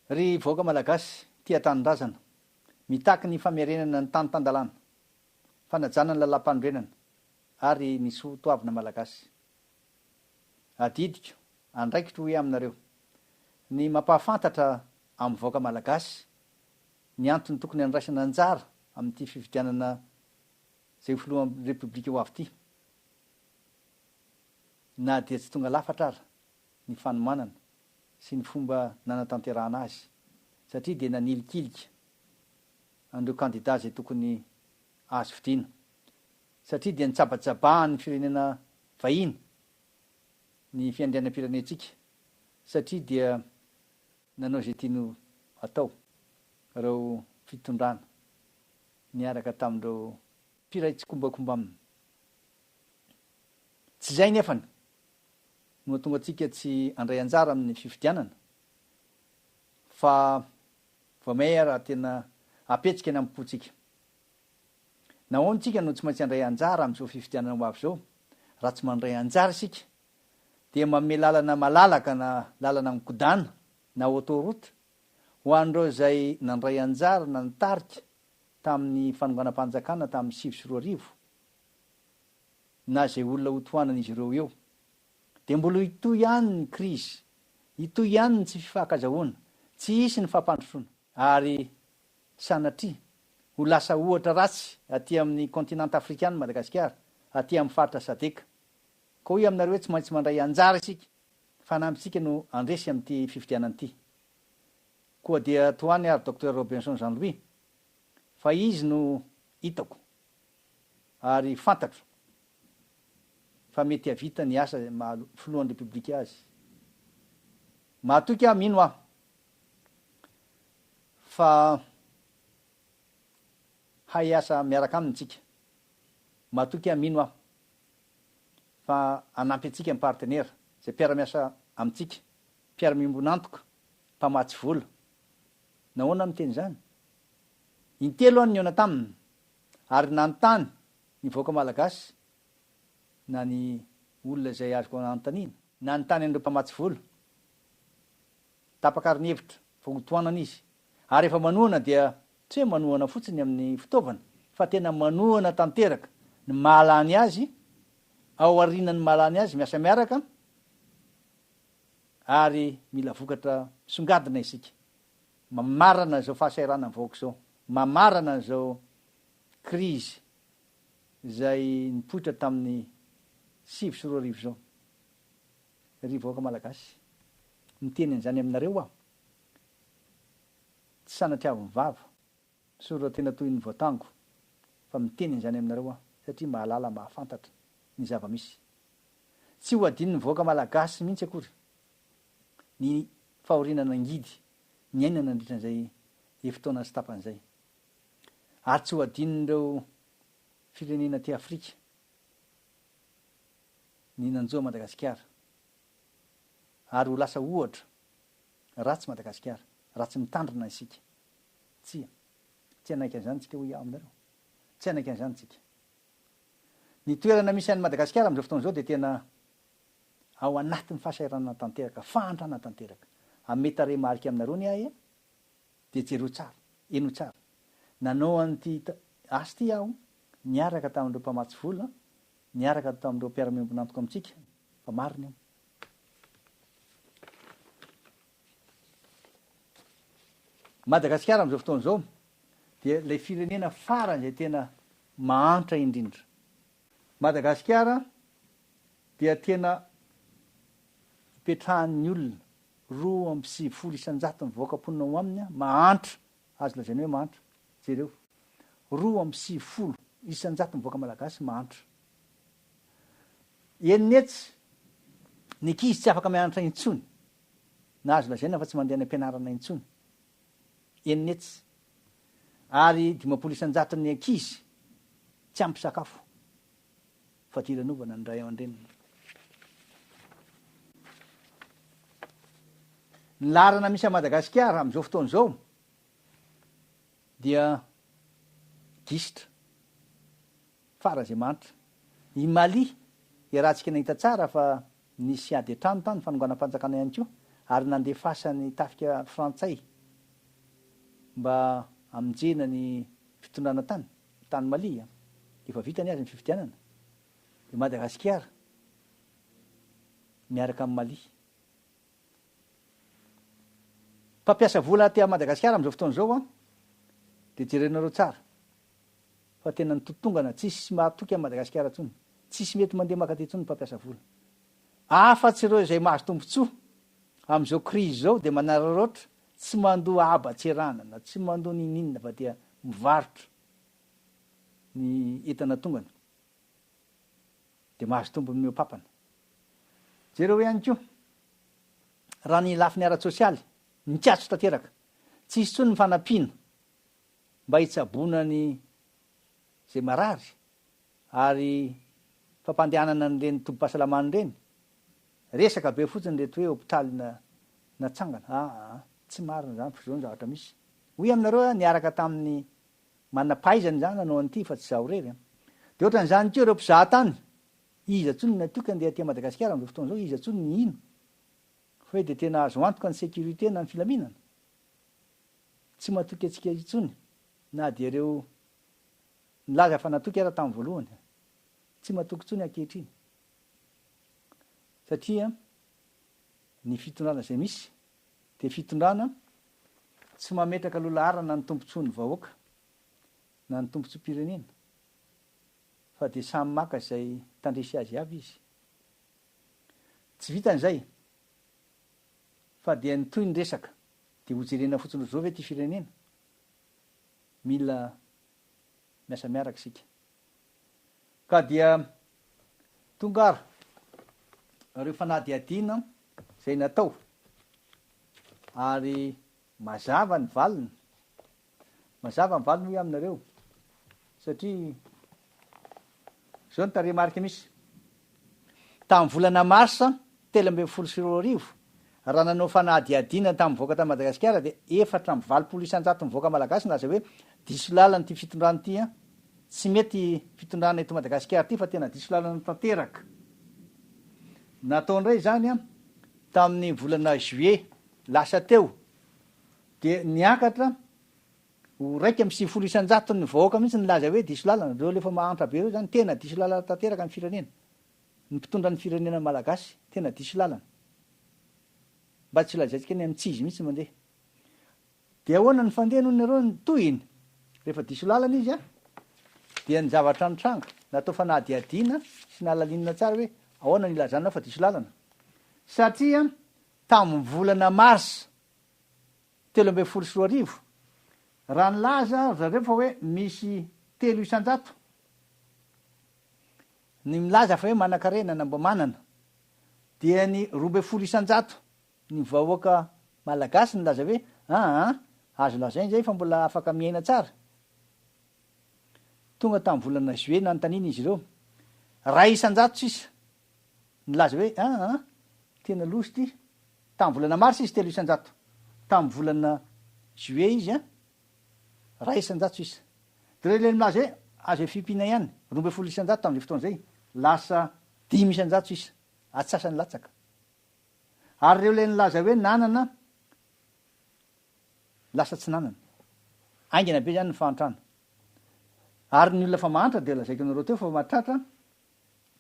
Ry vahoaka Malagasy tia tanindrazana, mitaky ny famerenana ny tany tan-dalàna, fanajana ny lalàmpanorenana ary ny soa toavina Malagasy. Adidiko, andraikitro hoe aminareo, ny mampahafantatra amin'ny vahoaka Malagasy ny antony tokony handraisana anjara amin'ity fifidianana izay ho filohan'ny Repoblika ho avy ity, na dia tsy tonga lafatra ara. ny fanomanana sy ny fomba nanatanterahana azy satria dia nanilikilika an'ireo kandida izay tokony azo fidiana satria dia nitsabatsabahan'ny firenena vahiny ny fiandrianam-pirenentsika satria dia nanao izay tiany ho atao ireo fitondrana niaraka tamin'ireo Mpiray tsikombakomba aminy. Tsy izay nefany no hahatonga antsika tsy handray anjara amin'ny fifidianana fa vao maiaa raha tena apetsika ny amim-pontsika. Nahoana isika no tsy maintsy handray anjara amin'izao fifidianana ho avy izao? Raha tsy mandray anjara isika dia manome lalana malalaka na lalana mikodàna na autoroute ho an'ireo izay nandray anjara na nitarika tamin'ny fanonganam-panjakana tamin'ny sivy sy roa arivo na izay olona ho tohanan'izy ireo eo dia mbola hitohy ihany ny krizy, hitohy ihany ny tsy fifankazahoana, tsy hisy ny fampandrosoana ary sanatria ho lasa ohatra ratsy aty amin'ny kontinanta afrikana i Madagasikara, aty amin'ny faritra Sadec. Ka hoy aminareo hoe tsy maintsy mandray anjara isika, fanampintsika no handresy amin'ity fifidianana ity. Koa dia toa any ary Docteur Robinson Jean Louis fa izy no hitako ary fantatro fa mety hahavita ny asa maha filohan'ny Repoblika azy. Mahatoky aho, mino aho fa hay hiasa miaraka aminy tsika. Mahatoky aho, mino aho fa hanampy antsika ny partenera, izay mpiara-miasa amintsika, mpiara-miombon'antoka. mpamatsy vola. Nahoana no miteny izany? Intelo ny nihaona taminy ary nanontany ny vahoaka malagasy na ny olona izay azoko anontaniana. Nanontany an'ireo mpamatsy vola. Tapaka ary ny hevitra fa hotohanana izy. Ary rehefa manohana dia tsy hoe manohana fotsiny amin'ny fitaovana fa tena manohana tanteraka ny mahalany azy, ao aorianan'ny mahalany azy miasa miaraka, ary mila vokatra misongadina isika mamarana izao fahasahiranan'ny vahoaka izao, mamarana izao krizy izay nipoitra tamin'ny sivy sy roa arivo izao. Ry vahoaka Malagasy, miteny an'izany aminareo aho, tsy sanatriavin'ny vava. Misaotra tena toy ny voatango fa miteny an'izany aminareo aho satria mahalala mahafantatra ny zava-misy. Tsy ho adinon'ny vahoaka malagasy mihitsy akory ny fahoriana nangidy niaina nandritra an'izay efi-taona sy tapany izay. Ary tsy ho adinon'ireo firenena aty Afrika ny nanjo an'i Madagasikara. Ary ho lasa ohatra ratsy Madagasikara raha tsy mitandrina isika Tsia. Tsy hanaiky an'izany tsika hoy aho aminareo. Tsy hanaiky an'izany tsika. Ny toerana misy an'i Madagasikara amin'izao fotoana izao dia tena ao anatin'ny fahasahiranana tanteraka, fahantrana tanteraka. Hanome tarehimarika aminareo anie aho e! Dia jereo tsara, heno tsara. Nanao an'ity asa ity aho niaraka tamin'ireo mpamatsy vola, niaraka tamin'ireo mpiara-miombon'antoka amintsika, fa marina io. Madagasikara amin'izao fotoana izao dia ilay firenena farany izay tena mahantra indrindra. Madagasikara dia tena ipetrahan'ny olona roa amby sivifolo isan-jaton'ny vahoaka-mponina ao aminy mahantra, azo lazaina hoe mahantra. Jereo, roa amby sivifolo isan-jaton'ny vahoaka malagasy mahantra. Eny ny etsy, ny ankizy tsy afaka mianatra intsony na azo lazaina fa tsy mandeha any am-pianarana intsony eny netsy ary dimampolo isan-jato ny ankizy tsy ampy sakafo. Fadiranovana ny ray aman-dreniny. Ny laharana misy an'i Madagasikara amin'izao fotoana izao dia gisitra. Fara izay mahantra. I Mali, iarahantsika nahita tsara fa nisy ady an-trano tany, fanonganam-panjakana ihany koa, ary nandefasan'ny tafika frantsay mba hamonjena ny fitondrana tany, tany Mali an! Efa vita anie ary ny fifidianana. I Madagasikara miaraka amin'i Mali. Mpampiasa vola aty Madagasikara amin'izao fotoana izao an, dia jereo nareo tsara. fa tena nitotongana, tsisy mahatoky an'i Madagasikara intsony, tsisy mety mandeha maka aty intsony ny mpampiasa vola. Afatsy ireo izay mahazo tombotsoa amin'izao crise izao dia manararaotra, tsy mandoa haba tsy erahana na tsy mandoa n'inon'inona fa dia mivarotra ny entana tongany dia mahazo tombony mihoa-papana. Jereo ihany koa raha ny lafiny ara-tsosialy, nikatso tanteraka, tsisy intsony ny fanampiana mba hitsaboana ny izay marary ary fampandehanana an'ireny tobim-pahasalamana ireny, resaka be fotsiny ireto hoe hopitaly natsangana, aa, tsy marina izany fa izao ny zavatra misy, hoy aminareo aho niaraka tamin'ny manam-pahaizana izany nanao an'ity fa tsy izaho irery an! Dia ohatran'izany koa ireo mpizaha tany, iza intsony no natoky handeha aty Madagasikara amin'izao fotoana izao, iza intsony no hino fa hoe dia tena azo antoka ny sécurité na ny filaminana? Tsy matoky antsika intsony na dia ireo nilaza fa natoky aza tamin'ny voalohany. Tsy matoky intsony ankehitriny satria ny fitondrana izay misy dia fitondrana tsy mametraka lolaharana ny tombontsoan'ny vahoaka na ny tombontsoam-pirenena fa dia samy maka izay tandrify azy avy izy. Tsy vitan'izay Fa dia ny toy ny resaka dia ho jerena fotsiny ry zao ve ity firenena? Mila miasa miaraka isika. Ka dia tonga ary ireo fanadihadiana izay natao ary mazava ny valiny Mazava ny valiny hoy aho aminareo, satria izao no tarehimarika misy, tamin'ny volana marsa telo ambin'ny folo sy roa arivo, raha nanao fanadihadiana tamin'ny vahoaka tany Madagasikara dia efatra amby valopolo isan-jato ny vahoaka malagasy nilaza hoe diso lalana ity fitondrana ity an, tsy mety fitondrana eto Madagasikara ity fa tena diso lalana tanteraka. Natao indray izany tamin'ny volana juillet lasa teo, Dia niakatra ho iraika amby sivifolo isan-jaton'ny vahoaka mihitsy nilaza hoe diso lalana. Ireo alefa mahantra be ireo izany tena diso lalana tanteraka ny firenena. Ny mpitondra ny firenena malagasy tena diso lalana. Mba tsy lazaintsika ny antsizy mihitsy mandeha. Dia ahoana ny fandeha hono nareo ny tohiny? Rehefa diso lalana izy an! Dia ny zavatra nitranga, natao fanadihadiana sy nahalalinina tsara hoe ahoana ny ilazanao fa diso lalana? Satria tamin'ny volana marsa telo ambin'ny folo sy roa arivo, raha nilaza ry zareo fa hoe misy telo isan-jato ny milaza fa hoe manankarena na mba manana, dia ny roa ambin'ny folo isan-jato ny vahoaka malagasy nilaza hoe aa, azo lazaina izay fa mbola afaka miaina tsara. Tonga tamin'ny volana juillet nanontaniana izy ireo, iray isan-jato sisa Nilaza hoe, Ah ah, tena loza ity. Tamin'ny volana marsa izy, telo isan-jato. Tamin'ny volana juillet izy, an, iray isan-jato sisa. Dia ireo ilay milaza hoe, Azo efimpina ihany, roa ambin'ny folo isan-jato tamin'izay fotoana izay, lasa dimy isan-jato sisa, atsasany latsaka. Ary ireo ilay nilaza hoe nanana, lasa tsy nanana. Haingana be izany ny fahantrana. Ary ny olona efa mahantra dia lazaiko anareo teo fa mahatratra,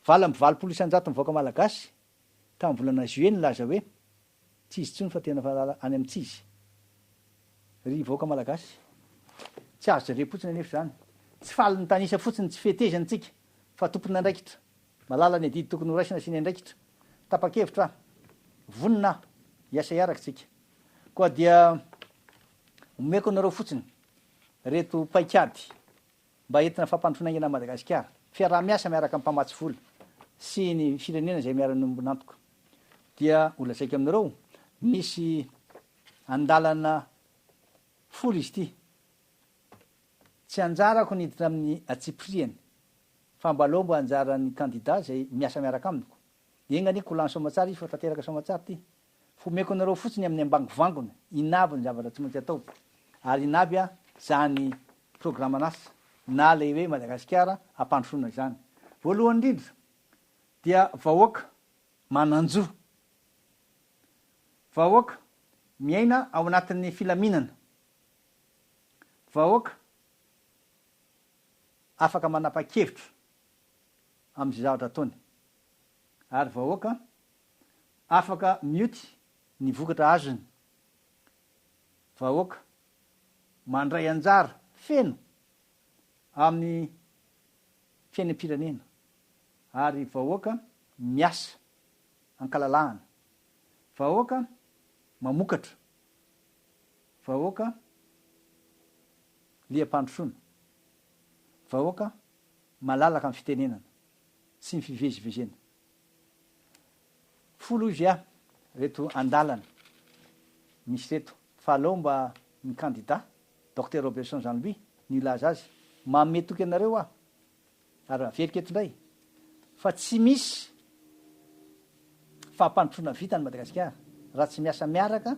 Valo amby valopolo isan-jato ny vahoaka malagasy tamin'ny volana juillet nilaza hoe tsy izy intsony fa tena valala any amin'ny tsy izy. Ry vahoaka malagasy, tsy azo jerem-potsiny anefa izany. Tsy faly mitanisa fotsiny ny tsy fetezany isika fa tompon'andraikitra. Mahalala ny adidy tokony horaisina sy ny andraikitra. Tapa-kevitra aho, vonona aho hiasa hiaraka isika. Koa dia omeko anareo fotsiny ireto paikady. mba entina fampandrosoana aingana an'i Madagasikara, fiaraha-miasa miaraka amin'ny mpamatsy vola sy ny firenena izay miara-miombona antoka. Dia ho lazaiko aminareo, misy andalana folo izy ity. Tsy anjarako ny hiditra amin'ny antsipiriany fa mba aleo mba anjaran'ny kandida izay miasa miaraka amiko. Enga anie ko lany soamatsara izy fa tanteraka soamatsara ity. Homeko anareo fotsiny amin'ny ambangovangony in'avy ny zavatra tsy maintsy atao, ary in'avy izany programan'asa na ilay hoe Madagasikara hampandrosoana izany. Voalohany indrindra dia vahoaka manan-jo, vahoaka miaina ao anatin'ny filaminana, vahoaka afaka manapa-kevitra amin'izay zavatra ataony, ary vahoaka afaka mioty ny vokatra azony vahoaka mandray anjara feno amin'ny fiainam-pirenena ary vahoaka miasa ankalalahana, vahoaka mamokatra, vahoaka liam-pandrosoana, vahoaka malalaka amin'ny fitenenana sy ny fivezivezena. Folo ivya reto andalana misy reto fa aleo mba ny kandida Docteur Roberson Jean Louis no hilaza azy. Manome toky anareo aho ary averiko eto indray fa tsy misy fampandrosoana vita any Madagasikara raha tsy miasa miaraka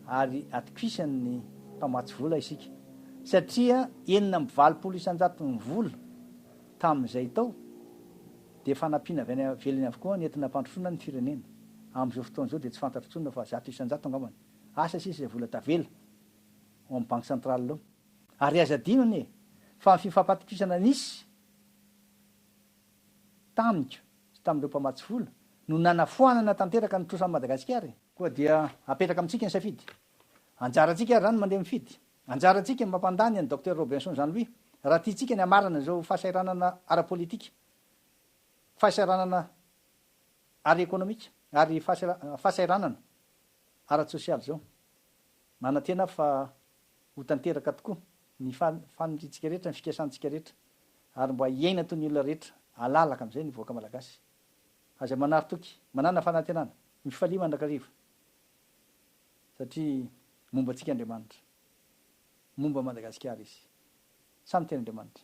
ary atokisan'ny mpamatsy vola isika satria enina amby valopolo isan-jaton'ny vola tamin'izay tao dia fanampiana avy any ivelany avokoa ny entina hampandrosoana ny firenena. Amin'izao fotoana izao dia tsy fantatro intsony fa zato isan-jato angamba ny asa sisa izay vola tavela ao amin'ny banky centrale ao. Ary aza adino anie fa ny fifampatokisana nisy tamiko sy tamin'ireo mpamatsy vola no nanafoanana tanteraka ny trosan'i Madagasikara e! Koa dia apetraka amintsika ny safidy. Anjarantsika ary izany mandeha mifidy Anjarantsika ny mampandà ny an'i Docteur Robinson Jean Louis raha tiantsika ny hamarana izao fahasahiranana ara-politika, fahasahiranana ara-ekonomika ary fahasahiranana ara-tsosialy izao. Manantena aho fa ho tanteraka tokoa ny faniriantsika rehetra, ny fikasantsika rehetra ary mba hiaina toy ny olona rehetra alalaka amin'izay ny vahoaka malagasy. Aza manary toky. Manàna fanantenana. Mifalia mandrakariva. satria momba antsika Andriamanitra, momba Madagasikara Izy. Samy tian'Andriamanitra.